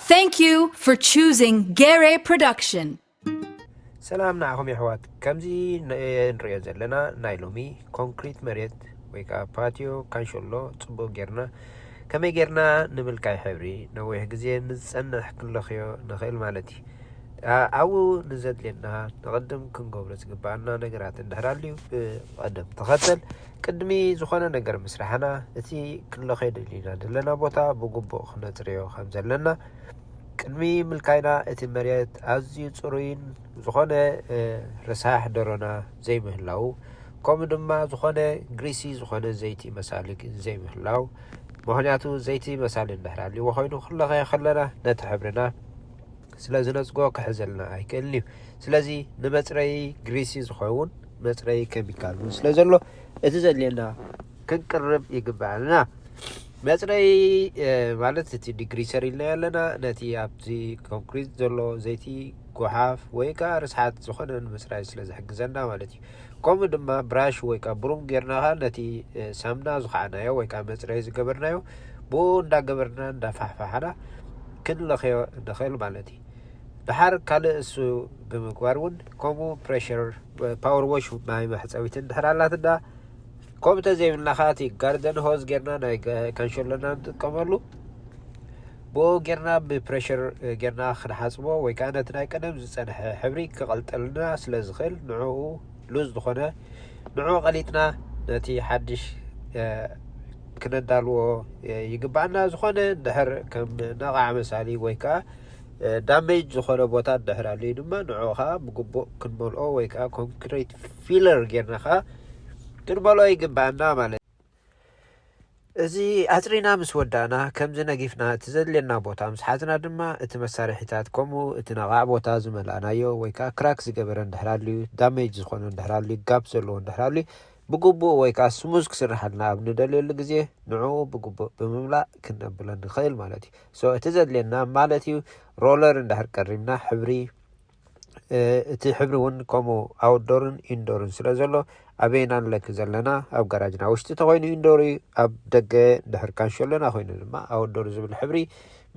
Thank you for choosing Gere Production. ሰላም ንዓኹም የሕዋት ከምዚ ንሪኦ ዘለና ናይ ሎሚ ኮንክሪት መሬት ወይ ከዓ ፓትዮ ካንሸሎ ፅቡቅ ጌርና ከመይ ጌርና ንምልካይ ሕብሪ ነዊሕ ግዜ ንዝፀንሕ ክንለኽዮ ንኽእል ማለት እዩ ኣብኡ ንዘድልየና ንቅድም ክንገብሮ ዝግባኣና ነገራት እንድሕር ኣልዩ ብቀደም ተኸተል ቅድሚ ዝኾነ ነገር ምስራሕና እቲ ክንለኸይ ደሊና ዘለና ቦታ ብግቡእ ክነጽርዮ ከም ዘለና ቅድሚ ምልካይና እቲ መሬት ኣዝዩ ጽሩይን ዝኾነ ረሳሕ ደሮና ዘይምህላው ከምኡ ድማ ዝኾነ ግሪሲ ዝኾነ ዘይቲ መሳሊ ዘይምህላው ምክንያቱ ዘይቲ መሳሊ እንድሕር ኣልዎ ኮይኑ ክንለኸዮ ከለና ነቲ ሕብርና ስለ ዝነጽጎ ክሕዘልና ኣይክእልን እዩ። ስለዚ ንመጽረዪ ግሪሲ ዝኸውን መጽረዪ ኬሚካል እውን ስለ ዘሎ እቲ ዘድልየና ክንቅርብ ይግብኣልና። መጽረዪ ማለት እቲ ዲግሪሰር ኢልና ኣለና ነቲ ኣብቲ ኮንክሪት ዘሎ ዘይቲ ጎሓፍ ወይ ከዓ ርስሓት ዝኾነ ንምጽራይ ስለ ዝሕግዘና ማለት እዩ። ከምኡ ድማ ብራሽ ወይ ከኣ ብሩም ጌርና ከኣ ነቲ ሳምና ዝኸዓናዮ ወይ ከኣ መጽረዪ ዝገበርናዮ ብኡ እንዳገበርና እንዳፋሕፋሕና ክንለኽዮ ንኽእል ማለት እዩ። ድሓር ካልእ እሱ ብምግባር እውን ከምኡ ፕረሸር ፓወር ዎሽ ማይ መሕጸቢት እንድሕር ኣላትና ከምኡ ተዘይብልና ከኣ እቲ ጋርደን ሆዝ ጌርና ናይ ካንሸሎና ንጥቀመሉ ብኡ ጌርና ብፕረሽር ጌርና ክንሓጽቦ ወይ ከኣ ነቲ ናይ ቀደም ዝጸንሐ ሕብሪ ክቐልጠልና ስለ ዝኽእል ንዕኡ ሉዝ ዝኾነ ንዕኡ ቀሊጥና ነቲ ሓድሽ ክነዳልዎ ይግባኣና ዝኾነ ድሕር ከም ነቓዕ መሳሊ ወይ ከኣ ዳሜጅ ዝኾነ ቦታ ድሕር ኣልዩ ድማ ንዕኡ ከዓ ብግቡእ ክንመልኦ ወይ ከዓ ኮንክሪት ፊለር ጌርና ከዓ ክንመልኦ ይግባኣና ማለት እዚ ኣጽሪና ምስ ወዳእና፣ ከምዚ ነጊፍና እቲ ዘድልየና ቦታ ምስ ሓዝና ድማ፣ እቲ መሳርሒታት ከምኡ እቲ ነቓዕ ቦታ ዝመላእናዮ ወይ ከኣ ክራክ ዝገበረ እንድሕር ኣልዩ፣ ዳሜጅ ዝኾነ እንድሕር ኣልዩ፣ ጋፕ ዘለዎ እንድሕር ኣልዩ፣ ብግቡእ ወይ ከኣ ስሙዝ ክስርሓልና ኣብ ንደልየሉ ግዜ ንዕኡ ብግቡእ ብምምላእ ክንነብሎ ንኽእል ማለት እዩ። so እቲ ዘድልየና ማለት እዩ ሮለር እንድሕር ቀሪብና ሕብሪ፣ እቲ ሕብሪ እውን ከምኡ ኣውትዶርን ኢንዶርን ስለ ዘሎ ኣበየና ንለኪ ዘለና ኣብ ጋራጅና ውሽጢ ተኮይኑ ኢንዶር እዩ ኣብ ደገ ድሕር ካንሸሎና ኮይኑ ድማ ኣውትዶር ዝብል ሕብሪ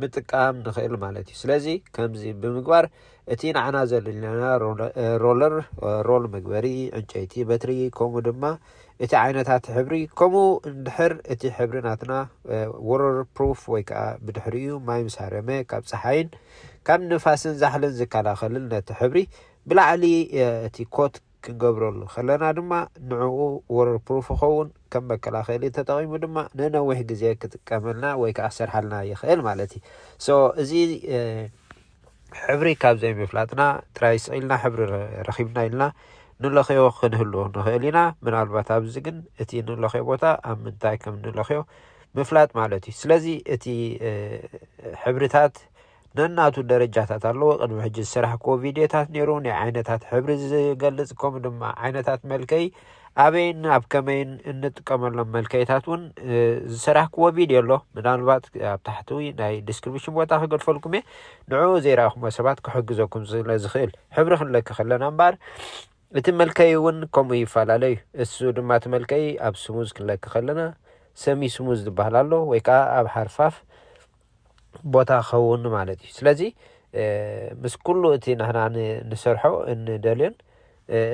ምጥቃም ንኽእል ማለት እዩ ስለዚ ከምዚ ብምግባር እቲ ንዓና ዘድልየና ሮለር ሮል መግበሪ ዕንጨይቲ በትሪ ከምኡ ድማ እቲ ዓይነታት ሕብሪ ከምኡ እንድሕር እቲ ሕብሪ ናትና ወረር ፕሩፍ ወይ ከኣ ብድሕሪኡ ማይ ምስ ሃረመ ካብ ጸሓይን ካብ ንፋስን ዛሕልን ዝከላኸልል ነቲ ሕብሪ ብላዕሊ እቲ ኮት ክንገብረሉ ከለና ድማ ንዕኡ ወረር ፕሩፍ ይኸውን ከም መከላኸሊ ተጠቒሙ ድማ ንነዊሕ ግዜ ክጥቀመልና ወይ ከኣ ክሰርሓልና ይኽእል ማለት እዩ ሶ እዚ ሕብሪ ካብ ዘይምፍላጥና ጥራይ ስቕ ኢልና ሕብሪ ረኺብና ኢልና ንለኽዮ ክንህሉ ንኽእል ኢና። ምናልባት ኣብዚ ግን እቲ ንለኽዮ ቦታ ኣብ ምንታይ ከም ንለኽዮ ምፍላጥ ማለት እዩ። ስለዚ እቲ ሕብርታት ነናቱ ደረጃታት ኣለዎ። ቅድሚ ሕጂ ዝሰራሕክዎ ቪድዮታት ነይሩ ናይ ዓይነታት ሕብሪ ዝገልጽ ከምኡ ድማ ዓይነታት መልከይ ኣበይን ኣብ ከመይን እንጥቀመሎም መልከይታት እውን ዝሰራሕክዎ ቪድዮ ኣሎ ምናልባት ኣብ ታሕቲ ናይ ዲስክሪፕሽን ቦታ ክገድፈልኩም እየ ንዕኡ ዘይረኣኹሞ ሰባት ክሕግዘኩም ስለ ዝኽእል ሕብሪ ክንለኪ ከለና እምበኣር እቲ መልከይ እውን ከምኡ ይፈላለ እዩ እሱ ድማ እቲ መልከይ ኣብ ስሙዝ ክንለኪ ከለና ሰሚ ስሙዝ ዝበሃል ኣሎ ወይ ከዓ ኣብ ሓርፋፍ ቦታ ክኸውን ማለት እዩ ስለዚ ምስ ኩሉ እቲ ንሕና ንሰርሖ እንደልዮን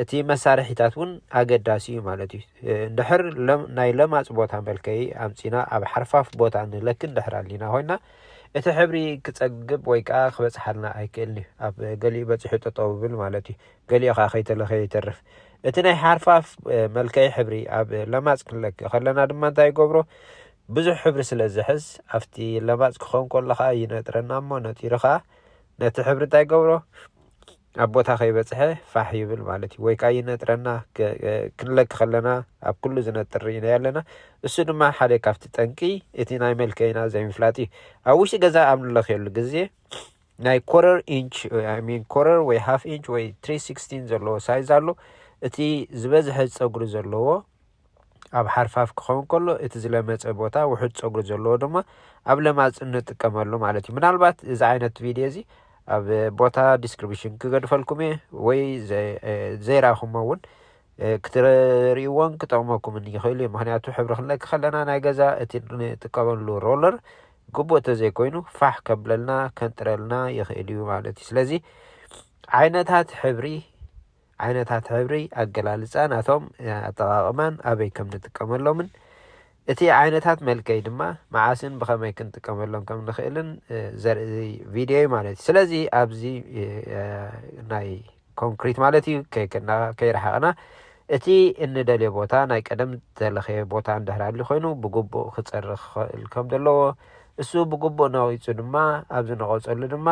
እቲ መሳርሒታት እውን ኣገዳሲ እዩ ማለት እዩ እንድሕር ናይ ለማፅ ቦታ መልከይ ኣምፂና ኣብ ሓርፋፍ ቦታ ንለክ እንድሕር ኣሊና ኮይና እቲ ሕብሪ ክፀግብ ወይ ከዓ ክበፅሓልና ኣይክእልን እዩ ኣብ ገሊኡ በፂሑ ጠጠው ብል ማለት እዩ ገሊኡ ከዓ ከይተለኸ ይተርፍ እቲ ናይ ሓርፋፍ መልከይ ሕብሪ ኣብ ለማፅ ክንለክ ከለና ድማ እንታይ ይገብሮ ብዙሕ ሕብሪ ስለ ዝሕዝ ኣብቲ ለባጽ ክኸውን ከሎ ከኣ ይነጥረና እሞ ነጢሩ ከኣ ነቲ ሕብሪ እንታይ ይገብሮ ኣብ ቦታ ከይበጽሐ ፋሕ ይብል ማለት እዩ ወይ ከኣ ይነጥረና ክንለኪ ከለና ኣብ ኩሉ ዝነጥር ርኢናዮ ኣለና እሱ ድማ ሓደ ካብቲ ጠንቂ እቲ ናይ መልከይና ዘይምፍላጥ እዩ ኣብ ውሽጢ ገዛ ኣብ ንለክየሉ ግዜ ናይ ኮረር ኢንች ሚን ኮረር ወይ ሃፍ ኢንች ወይ ትሪ ሲክስቲን ዘለዎ ሳይዝ ኣሎ እቲ ዝበዝሐ ጸጉሪ ዘለዎ ኣብ ሓርፋፍ ክኸውን ከሎ እቲ ዝለመጸ ቦታ ውሑድ ጸጉሪ ዘለዎ ድማ ኣብ ለማጽ ንጥቀመሉ ማለት እዩ። ምናልባት እዚ ዓይነት ቪድዮ እዚ ኣብ ቦታ ዲስክሪፕሽን ክገድፈልኩም እየ ወይ ዘይራኹሞ እውን ክትርእይዎን ክጠቕመኩምን ይኽእል እዩ ምክንያቱ ሕብሪ ክንለኪ ከለና ናይ ገዛ እቲ ንጥቀመሉ ሮለር ግቡእ እንተዘይኮይኑ ፋሕ ከብለልና ከንጥረልና ይኽእል እዩ ማለት እዩ ስለዚ ዓይነታት ሕብሪ ዓይነታት ሕብሪ ኣገላልፃ ናቶም ኣጠቓቕማን ኣበይ ከም ንጥቀመሎምን እቲ ዓይነታት መልከይ ድማ መዓስን ብኸመይ ክንጥቀመሎም ከም ንኽእልን ዘርኢ ቪድዮ እዩ ማለት እዩ ስለዚ ኣብዚ ናይ ኮንክሪት ማለት እዩ ከይከና ከይረሓቕና እቲ እንደልዮ ቦታ ናይ ቀደም ዝተለኸየ ቦታ እንድሕር ኣሊ ኮይኑ ብግቡእ ክፀሪ ክኽእል ከም ዘለዎ እሱ ብግቡእ ነቒፁ ድማ ኣብዚ ነቐፀሉ ድማ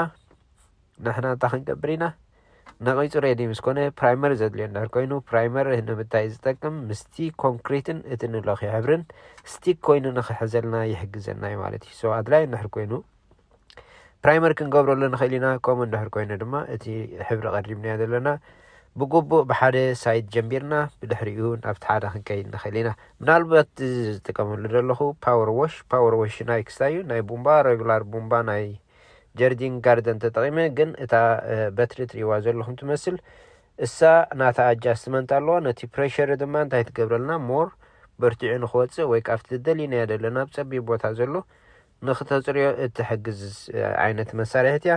ንሕና እንታይ ክንገብር ኢና ነቒጹ ሬዲ ምስ ኮነ ፕራይመር ዘድልዮ እንድሕር ኮይኑ ፕራይመር ንምንታይ እዩ ዝጠቅም ምስቲ ኮንክሪትን እቲ ንለኽዮ ሕብርን ስቲክ ኮይኑ ንኽሕዘልና ይሕግዘና እዩ ማለት እዩ ሶ ኣድላይ እንድሕር ኮይኑ ፕራይመር ክንገብረሉ ንኽእል ኢና ከምኡ እንድሕር ኮይኑ ድማ እቲ ሕብሪ ቀሪብናዮ ዘለና ብግቡእ ብሓደ ሳይድ ጀምቢርና ብድሕሪኡ ናብቲ ሓደ ክንከይድ ንኽእል ኢና ምናልባት እዚ ዝጥቀመሉ ዘለኹ ፓወር ዎሽ ፓወር ዎሽ ናይ ክስታይ እዩ ናይ ቡምባ ረጉላር ቡምባ ናይ ጀርዲን ጋርደን ተጠቂመ ግን እታ በትሪ ትሪእዋ ዘለኹም ትመስል እሳ ናታ ኣጃስትመንት ኣለዋ ነቲ ፕሬሸሪ ድማ እንታይ ትገብረልና ሞር በርቲዑ ንክወፅእ ወይ ካብቲ ዝደሊናዮ ዘለና ኣብ ፀቢብ ቦታ ዘሎ ንክተፅርዮ እትሕግዝ ዓይነት መሳርሒት እያ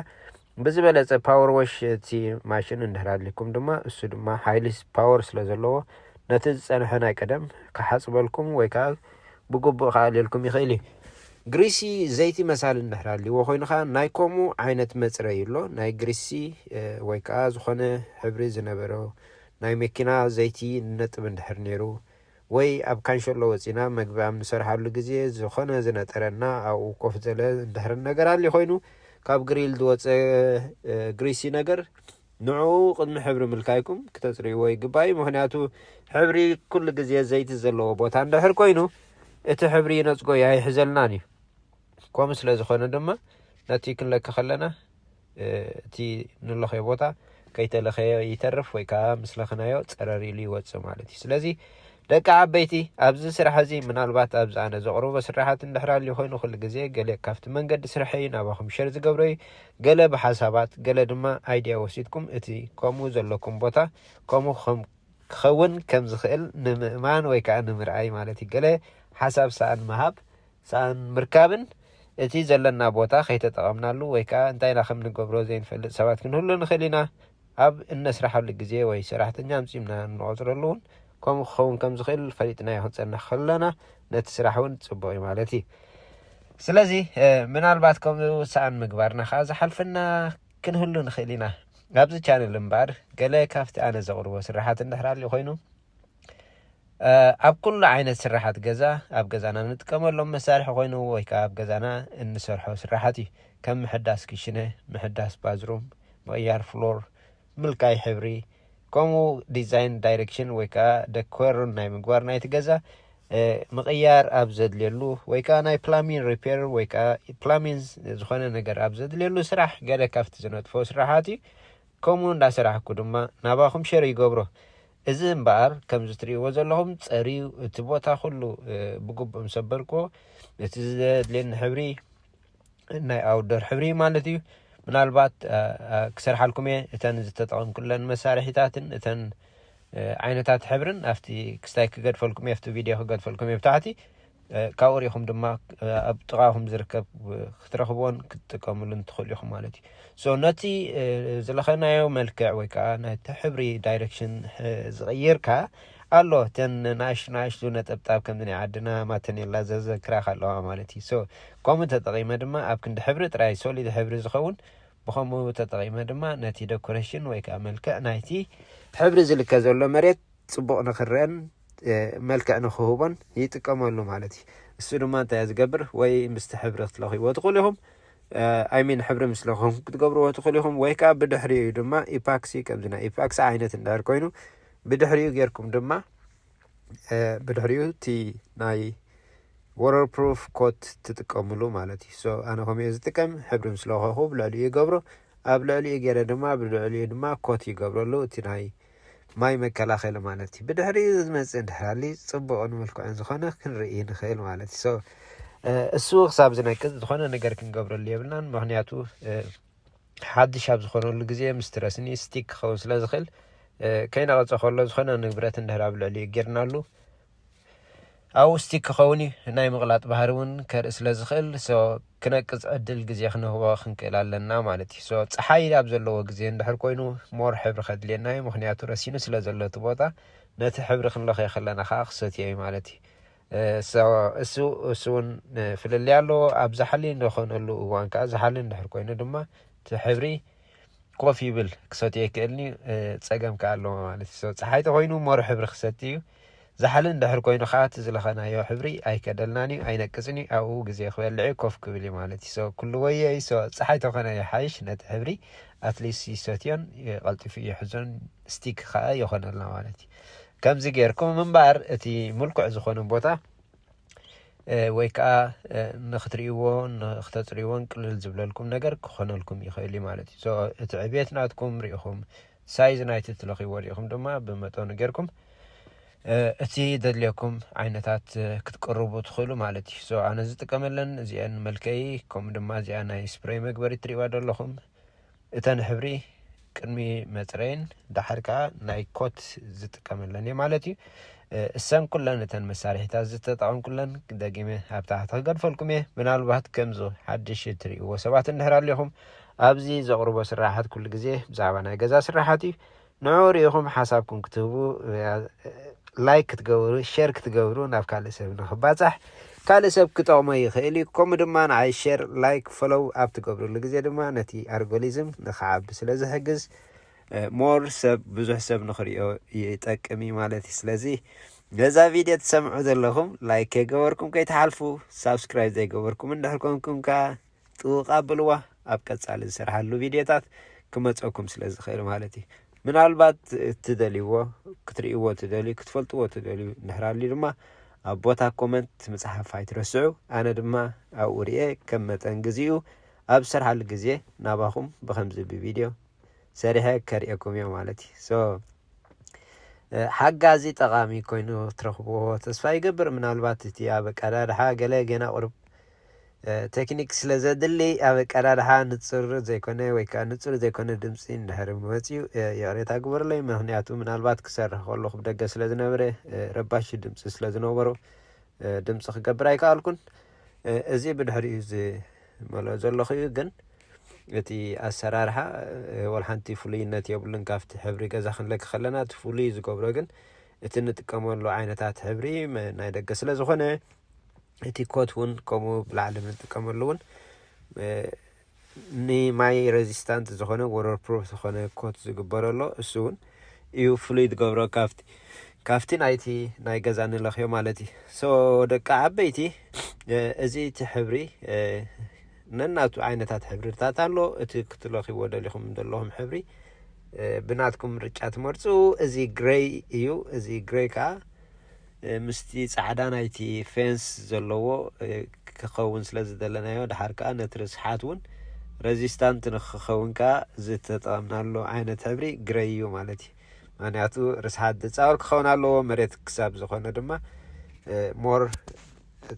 ብዝበለፀ ፓወር ወሽ እቲ ማሽን እንድሕር ኣድሊኩም ድማ እሱ ድማ ሓይሊ ፓወር ስለ ዘለዎ ነቲ ዝፀንሐ ናይ ቀደም ክሓፅበልኩም ወይ ከዓ ብግቡእ ክኣልየልኩም ይኽእል እዩ። ግሪሲ ዘይቲ መሳሊ እንድሕር ኣልይዎ ኮይኑ ከኣ ናይ ከምኡ ዓይነት መጽረዪ ኣሎ። ናይ ግሪሲ ወይ ከኣ ዝኾነ ሕብሪ ዝነበሮ ናይ መኪና ዘይቲ ንነጥብ እንድሕር ነይሩ ወይ ኣብ ካንሸሎ ወጺእና መግቢ ኣብ ንሰርሓሉ ግዜ ዝኾነ ዝነጠረና ኣብኡ ኮፍ ዘለ እንድሕር ነገር ኣልዩ ኮይኑ ካብ ግሪል ዝወጸ ግሪሲ ነገር ንዕኡ ቅድሚ ሕብሪ ምልካይኩም ክተጽርይዎ ይግባእ እዩ፣ ምኽንያቱ ሕብሪ ኩሉ ግዜ ዘይቲ ዘለዎ ቦታ እንድሕር ኮይኑ እቲ ሕብሪ ይነጽጎ እዩ፣ ኣይሕዘልናን እዩ። ከምኡ ስለ ዝኾነ ድማ ነቲ ክንለኪ ከለና እቲ ንለኸዮ ቦታ ከይተለኸየ ይተርፍ ወይ ከዓ ምስ ለኸናዮ ጸረር ኢሉ ይወጽእ ማለት እዩ። ስለዚ ደቂ ዓበይቲ፣ ኣብዚ ስራሕ እዚ ምናልባት ኣብዚ ኣነ ዘቕርቦ ስርሓት እንድሕር ኣልዩ ኮይኑ ኩሉ ግዜ ገለ ካብቲ መንገዲ ስርሐይ ናባኹም ሸር ዝገብሮ እዩ። ገለ ብሓሳባት ገለ ድማ ኣይድያ ወሲድኩም እቲ ከምኡ ዘለኩም ቦታ ከምኡ ክኸም ክኸውን ከም ዝኽእል ንምእማን ወይ ከኣ ንምርኣይ ማለት እዩ። ገለ ሓሳብ ሰኣን ምሃብ ሰኣን ምርካብን እቲ ዘለና ቦታ ከይተጠቐምናሉ ወይ ከኣ እንታይ ኢና ከም ንገብሮ ዘይንፈልጥ ሰባት ክንህሉ ንኽእል ኢና። ኣብ እነስርሓሉ ግዜ ወይ ሰራሕተኛ ኣምጺእና እንቖጽረሉ እውን ከምኡ ክኸውን ከም ዝኽእል ፈሊጥናዮ ክንጸንሕ ከለና ነቲ ስራሕ እውን ጽቡቕ እዩ ማለት እዩ። ስለዚ ምናልባት ከምኡ ዝሰኣን ምግባርና ከኣ ዝሓልፈና ክንህሉ ንኽእል ኢና። ኣብዚ ቻነል እምበኣር ገለ ካብቲ ኣነ ዘቕርቦ ስርሓት እንድሕር ኣልዩ ኮይኑ ኣብ ኩሉ ዓይነት ስራሓት ገዛ ኣብ ገዛና እንጥቀመሎም መሳርሒ ኮይኑ ወይ ከዓ ኣብ ገዛና እንሰርሖ ስራሓት እዩ ከም ምሕዳስ ክሽነ ምሕዳስ ባዝሩም ምቕያር ፍሎር ምልካይ ሕብሪ ከምኡ ዲዛይን ዳይሬክሽን ወይ ከዓ ደኮርን ናይ ምግባር ናይቲ ገዛ ምቕያር ኣብ ዘድልየሉ ወይ ከዓ ናይ ፕላሚን ሪፔር ወይ ከዓ ፕላሚን ዝኾነ ነገር ኣብ ዘድልየሉ ስራሕ ገለ ካብቲ ዝነጥፎ ስራሓት እዩ ከምኡ እንዳሰራሕኩ ድማ ናባኹም ሸር ይገብሮ እዚ እምበኣር ከምዚ ትርእይዎ ዘለኹም ጸርዩ እቲ ቦታ ኩሉ ብግቡእ ምስ ኣበልክዎ እቲ ዘድልየኒ ሕብሪ ናይ ኣውደር ሕብሪ ማለት እዩ ምናልባት ክሰርሓልኩም እየ እተን ዝተጠቐምኩለን መሳርሒታትን እተን ዓይነታት ሕብርን ኣብቲ ክስታይ ክገድፈልኩም እየ ኣብቲ ቪድዮ ክገድፈልኩም እየ ብታሕቲ ካብኡ ሪኢኹም ድማ ኣብ ጥቓኹም ዝርከብ ክትረኽብዎን ክትጥቀምሉን ትኽእሉ ኢኹም ማለት እዩ ሶ ነቲ ዝለኸናዮ መልክዕ ወይ ከዓ ነቲ ሕብሪ ዳይሬክሽን ዝቕይር ከዓ ኣሎ እተን ንኣሽቱ ንኣሽቱ ነጠብጣብ ከምዚ ናይ ዓድና ማተኔላ ዘዘክራኽ ኣለዋ ማለት እዩ ሶ ከምኡ ተጠቒመ ድማ ኣብ ክንዲ ሕብሪ ጥራይ ሶሊድ ሕብሪ ዝኸውን ብከምኡ ተጠቒመ ድማ ነቲ ደኮሬሽን ወይ ከዓ መልክዕ ናይቲ ሕብሪ ዝልከ ዘሎ መሬት ፅቡቕ ንክረአን መልክዕ ንክህቦን ይጥቀመሉ ማለት እዩ እሱ ድማ እንታይ ዝገብር ወይ ምስቲ ሕብሪ ክትለኽይዎ ትኽእሉ ኢኹም ኣይሚን ሕብሪ ምስ ለኹም ክትገብርዎ ትኽእሉ ኢኹም ወይ ከዓ ብድሕሪኡ እዩ ድማ ኢፓክሲ ከምዚ ናይ ኢፓክሲ ዓይነት እንዳር ኮይኑ ብድሕሪኡ ጌርኩም ድማ ብድሕሪኡ እቲ ናይ ወረር ፕሩፍ ኮት ትጥቀምሉ ማለት እዩ ሶ ኣነ ከምኡ እየ ዝጥቀም ሕብሪ ምስ ለኸኹ ብልዕሊኡ ይገብሮ ኣብ ልዕሊኡ ገይረ ድማ ብልዕሊኡ ድማ ኮት ይገብረሉ እቲ ናይ ማይ መከላኸሊ ማለት እዩ ብድሕሪኡ ዝመፅእ እንድሕር ሃልዩ ፅቡቕን ምልኩዕን ዝኾነ ክንርኢ ንኽእል ማለት እዩ ሶ እሱ ክሳብ ዝነቅፅ ዝኾነ ነገር ክንገብረሉ የብልናን ምክንያቱ ሓድሽ ኣብ ዝኾነሉ ግዜ ምስትረስኒ ስቲክ ክኸውን ስለ ዝኽእል ከይነቐፀ ከሎ ዝኾነ ንብረት እንድሕር ኣብ ልዕሊኡ ጌርናሉ ኣውስቲክ ክኸውን እዩ ናይ ምቕላጥ ባህሪ ውን ከርኢ ስለ ዝኽእል so ክነቅጽ ዕድል ግዜ ክንህቦ ክንክእል ኣለና ማለት እዩ so ጸሓይ ኣብ ዘለዎ ግዜ እንድሕር ኮይኑ more ሕብሪ ከድልየና እዩ ምኽንያቱ ረሲኑ ስለ ዘሎ እቲ ቦታ ነቲ ሕብሪ ክንለኽዮ ከለና ከኣ ክሰትዮ እዩ ማለት እዩ እሱ እሱ እውን ፍልልይ ኣለዎ ኣብ ዛሓሊ ንኾነሉ እዋን ከዓ ዛሓሊ እንድሕር ኮይኑ ድማ እቲ ሕብሪ ኮፍ ይብል ክሰትዮ ይክእልኒ ፀገም ከዓ ኣለዎ ማለት እዩ ፀሓይ ተኮይኑ ሞር ሕብሪ ክሰቲ እዩ ዛሕሊ እንድሕር ኮይኑ ከኣ እቲ ዝለኸናዮ ሕብሪ ኣይከደልናን እዩ፣ ኣይነቅጽን እዩ፣ ኣብኡ ግዜ ክበልዕ እዩ፣ ኮፍ ክብል እዩ ማለት እዩ። so ኩሉ ወዮ እዩ። so ጸሓይ ተኮነ ይሓይሽ ነቲ ሕብሪ at least ይሰትዮን ቀልጢፉ ይሕዞን stick ከኣ ይኮነልና ማለት እዩ። ከምዚ ጌርኩም እምበኣር እቲ ምልኩዕ ዝኮነ ቦታ ወይ ከኣ ንክትርእይዎ ንክተጽርይዎን ቅልል ዝብለልኩም ነገር ክኾነልኩም ይኽእል እዩ ማለት እዩ። so እቲ ዕብየት ናትኩም ርኢኹም ሳይዝ ናይቲ እትለኽይዎ ሪኢኹም ድማ ብመጠኑ ጌርኩም እቲ ደድልየኩም ዓይነታት ክትቅርቡ ትኽእሉ ማለት እዩ ሶ ኣነ ዝጥቀመለን እዚአን መልከይ ከምኡ ድማ እዚኣ ናይ ስፕሬይ መግበሪ ትሪእዋ ደለኹም እተን ሕብሪ ቅድሚ መፅረይን ዳሓር ከዓ ናይ ኮት ዝጥቀመለን እየ ማለት እዩ እሰን ኩለን እተን መሳርሒታት ዝተጠቐምኩለን ደጊመ ኣብ ታሕቲ ክገድፈልኩም እየ ምናልባት ከምዚ ሓድሽ እትርእይዎ ሰባት እንድሕር ኣለኹም ኣብዚ ዘቕርቦ ስርሓት ኩሉ ግዜ ብዛዕባ ናይ ገዛ ስርሓት እዩ። ንዕኡ ርኢኹም ሓሳብኩም ክትህቡ ላይክ ክትገብሩ ሼር ክትገብሩ ናብ ካልእ ሰብ ንክባጻሕ ካልእ ሰብ ክጠቕሞ ይኽእል እዩ። ከምኡ ድማ ንዓይ ሼር ላይክ ፎሎው ኣብ ትገብርሉ ግዜ ድማ ነቲ ኣርጎሊዝም ንክዓቢ ስለ ዝሕግዝ ሞር ሰብ ብዙሕ ሰብ ንክሪኦ ይጠቅም እዩ ማለት እዩ። ስለዚ ነዛ ቪድዮ ትሰምዑ ዘለኹም ላይክ ከይገበርኩም ከይትሓልፉ፣ ሳብስክራይብ ዘይገበርኩም እንድሕር ኮንኩም ከኣ ጥውቅ ኣብልዋ ኣብ ቀጻሊ ዝሰርሓሉ ቪድዮታት ክመጸኩም ስለ ዝኽእል ማለት እዩ ምናልባት እትደልይዎ ክትርእይዎ ትደልዩ ክትፈልጥዎ ትደልዩ እንድሕር ኣልዩ ድማ ኣብ ቦታ ኮመንት ምጽሓፍ ኣይትረስዑ ኣነ ድማ ኣብኡ ርኤ ከም መጠን ግዜኡ ኣብ ዝሰርሓሉ ግዜ ናባኹም ብከምዚ ብቪድዮ ሰሪሐ ከርእየኩም እዮ ማለት እዩ ሶ ሓጋዚ ጠቓሚ ኮይኑ ትረኽብዎ ተስፋ ይገብር። ምናልባት እቲ ኣብ ኣቀዳድሓ ገለ ገና ቁሩብ ቴክኒክ ስለ ዘድሊ ኣብ ኣቀዳድሓ ንጹር ዘይኮነ ወይ ከዓ ንጹር ዘይኮነ ድምፂ እንድሕር መፅዩ ይቕሬታ ግበሩለይ። ምክንያቱ ምናልባት ክሰርሕ ከለኹ ብደገ ስለ ዝነበረ ረባሺ ድምፂ ስለ ዝነበሮ ድምፂ ክገብር ኣይከኣልኩን። እዚ ብድሕሪኡ መሎ ዘለኹ እዩ ግን እቲ ኣሰራርሓ ወላ ሓንቲ ፍሉይነት የብሉን ካብቲ ሕብሪ ገዛ ክንለኪ ከለና እቲ ፍሉይ ዝገብሮ ግን እቲ ንጥቀመሉ ዓይነታት ሕብሪ ናይ ደገ ስለ ዝኾነ እቲ ኮት እውን ከምኡ ብላዕሊ ንጥቀመሉ እውን ንማይ ሬዚስታንት ዝኾነ ወረር ፕሩፍ ዝኾነ ኮት ዝግበረሎ እሱ እውን እዩ ፍሉይ ዝገብሮ ካብቲ ካብቲ ናይቲ ናይ ገዛ ንለኽዮ ማለት እዩ so ደቂ ዓበይቲ እዚ እቲ ሕብሪ ነናቱ ዓይነታት ሕብርታት ኣሎ እቲ ክትለኽዎ ደሊኹም ዘለኹም ሕብሪ ብናትኩም ምርጫ ትመርጹ እዚ ግሬይ እዩ እዚ ግሬይ ከዓ ምስቲ ጻዕዳ ናይቲ ፌንስ ዘለዎ ክኸውን ስለ ዝደለናዮ ደሓር ከኣ ነቲ ርስሓት ውን ረዚስታንት ንክኸውን ከኣ ዝተጠቐምናሉ ዓይነት ሕብሪ ግረይ እዩ ማለት እዩ ምክንያቱ ርስሓት ድጻወር ክኸውን ኣለዎ መሬት ክሳብ ዝኾነ ድማ ሞር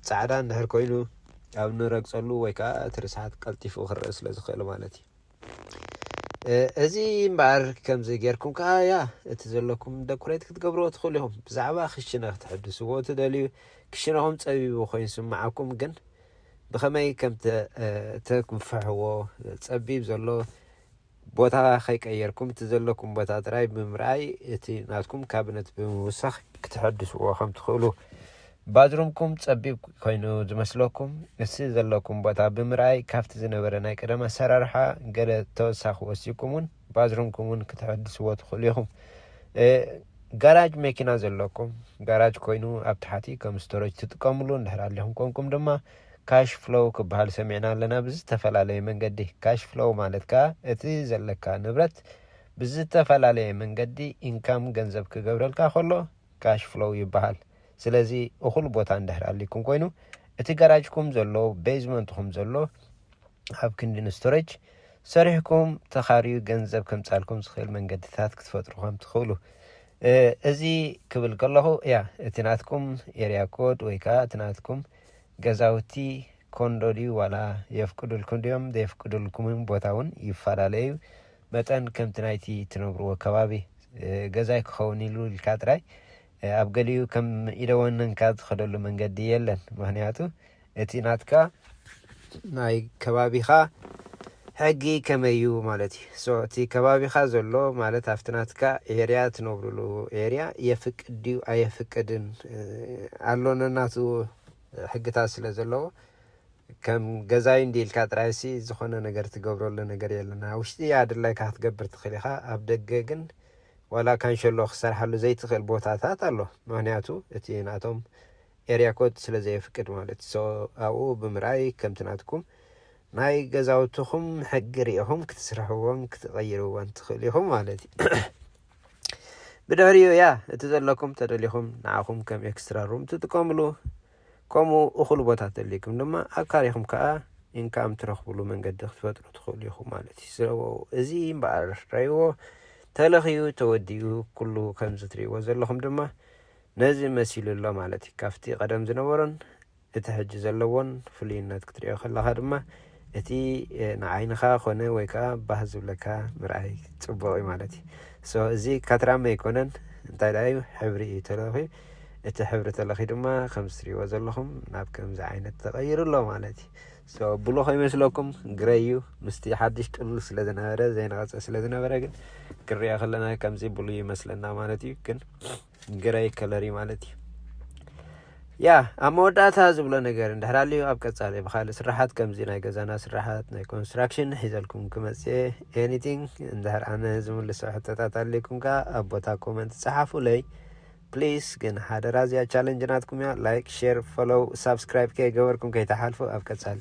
ጻዕዳ እንድሕር ኮይኑ ኣብ ንረግጸሉ ወይ ከኣ እቲ ርስሓት ቀልጢፉ ክረእ ስለ ዝኽእል ማለት እዩ እዚ እምበኣር ከምዚ ጌርኩም ከኣ ያ እቲ ዘለኩም ደኩሬት ክትገብርዎ ትኽእሉ ኢኹም ብዛዕባ ክሽነ ክትሕድስዎ ትደልዩ ክሽነኹም ጸቢቡ ኮይኑ ስምዓኩም ግን ብኸመይ ከም ተክንፍሕዎ ጸቢብ ዘሎ ቦታ ከይቀየርኩም እቲ ዘለኩም ቦታ ጥራይ ብምርኣይ እቲ ናትኩም ካቢነት ብምውሳኽ ክትሐድስዎ ከም ትኽእሉ ባዝሩምኩም ጸቢብ ኮይኑ ዝመስለኩም፣ እቲ ዘለኩም ቦታ ብምርኣይ ካብቲ ዝነበረ ናይ ቀደም ኣሰራርሓ ገለ ተወሳኺ ወሲኩም ውን ባዝሩምኩም ውን ክተሐድስዎ ትኽእሉ ኢኹም። ጋራጅ መኪና ዘለኩም፣ ጋራጅ ኮይኑ ኣብ ታሕቲ ከም ስቶረጅ ትጥቀምሉ እንድሕር ኣሊኹም ኮንኩም ድማ ካሽ ፍሎው ክበሃል ሰሚዕና ኣለና ብዝተፈላለየ መንገዲ። ካሽ ፍሎው ማለት ከኣ እቲ ዘለካ ንብረት ብዝተፈላለየ መንገዲ ኢንካም ገንዘብ ክገብረልካ ከሎ፣ ካሽ ፍሎው ይበሃል። ስለዚ እኹል ቦታ እንድሕር ኣልይኩም ኮይኑ እቲ ጋራጅኩም ዘሎ ቤዝመንትኹም ዘሎ ኣብ ክንዲ ንስቶሬጅ ሰሪሕኩም ተኻርዩ ገንዘብ ከምጻልኩም ዝኽእል መንገድታት ክትፈጥሩ ከም ትኽእሉ እዚ ክብል ከለኹ እያ እቲ ናትኩም ኤርያ ኮድ ወይ ከዓ እቲ ናትኩም ገዛውቲ ኮንዶ ድዩ ዋላ የፍቅዱልኩም ድዮም ዘየፍቅዱልኩምን ቦታ እውን ይፈላለዩ መጠን ከምቲ ናይቲ እትነብርዎ ከባቢ ገዛይ ክኸውን ኢሉ ኢልካ ጥራይ ኣብ ገሊኡ ከም ኢደ ወነንካ ትኸደሉ መንገዲ የለን። ምኽንያቱ እቲ ናትካ ናይ ከባቢኻ ሕጊ ከመይ እዩ ማለት እዩ። ሶ እቲ ከባቢኻ ዘሎ ማለት ኣብቲ ናትካ ኤርያ እትነብርሉ ኤርያ የፍቅድ ድዩ ኣየፍቅድን ኣሎ ነናቱ ሕግታት ስለ ዘለዎ ከም ገዛይ እንዲ ኢልካ ጥራይሲ ዝኾነ ነገር ትገብረሉ ነገር የለን ኣብ ውሽጢ ኣድላይካ ክትገብር ትኽእል ኢኻ ኣብ ደገ ግን ዋላ ካንሸሎ ክሰርሓሉ ዘይትኽእል ቦታታት ኣሎ ምክንያቱ እቲ ናቶም ኤርያ ኮድ ስለ ዘየፍቅድ ማለት ሶ ኣብኡ ብምርኣይ ከምቲ ናትኩም ናይ ገዛውትኹም ሕጊ ሪኢኹም ክትስርሕዎም ክትቐይርዎን ትኽእል ኢኹም ማለት እዩ ብድሕሪኡ እያ እቲ ዘለኩም ተደሊኹም ንዓኹም ከም ኤክስትራ ሩም ትጥቀምሉ ከምኡ እኹል ቦታ ተልይኩም ድማ ኣካሪኹም ከኣ ኢንካም ትረኽብሉ መንገዲ ክትፈጥሩ ትኽእሉ ኢኹም ማለት እዩ። ስለዎ እዚ እምበኣር ረይዎ ተለኽዩ ተወዲኡ ኩሉ ከምዚ ትርእይዎ ዘለኹም ድማ ነዚ መሲሉ ኣሎ ማለት እዩ። ካብቲ ቀደም ዝነበሮን እቲ ሕጂ ዘለዎን ፍሉይነት ክትርእዮ ከለኻ ድማ እቲ ንዓይንኻ ኮነ ወይ ከኣ ባህ ዝብለካ ምርኣይ ጽቡቕ እዩ ማለት እዩ። so እዚ ካትራመ ኣይኮነን እንታይ ደኣ እዩ ሕብሪ እዩ ተለኺዩ እቲ ሕብሪ ተለኺዩ ድማ ከምዚ ትርእይዎ ዘለኹም ናብ ከምዚ ዓይነት ተቐይሩ ኣሎ ማለት እዩ። so ብሉ ከይመስለኩም ግረይ እዩ ምስቲ ሓድሽ ጥሉል ስለ ዝነበረ ዘይነቐጸ ስለ ዝነበረ ግን ክንሪኦ ከለና ከምዚ ብሉ ይመስለና ማለት እዩ ግን ግራይ ከለሪ ማለት እዩ ያ ኣብ መወዳእታ ዝብሎ ነገር እንድሕር ኣልዩ ኣብ ቀጻሊ ብካልእ ስራሓት ከምዚ ናይ ገዛና ስራሓት ናይ ኮንስትራክሽን ሒዘልኩም ክመጽ ኤኒቲንግ እንድሕር ኣነ ዝምልሶ ሕቶታት ኣልኩም ከኣ ኣብ ቦታ ኮመንት ጸሓፉለይ ፕሊስ ግን ሓደራ እዚኣ ቻለንጅ ናትኩም እያ ላይክ ሼር ፎሎው ሳብስክራይብ ከይገበርኩም ከይተሓልፉ ኣብ ቀጻሊ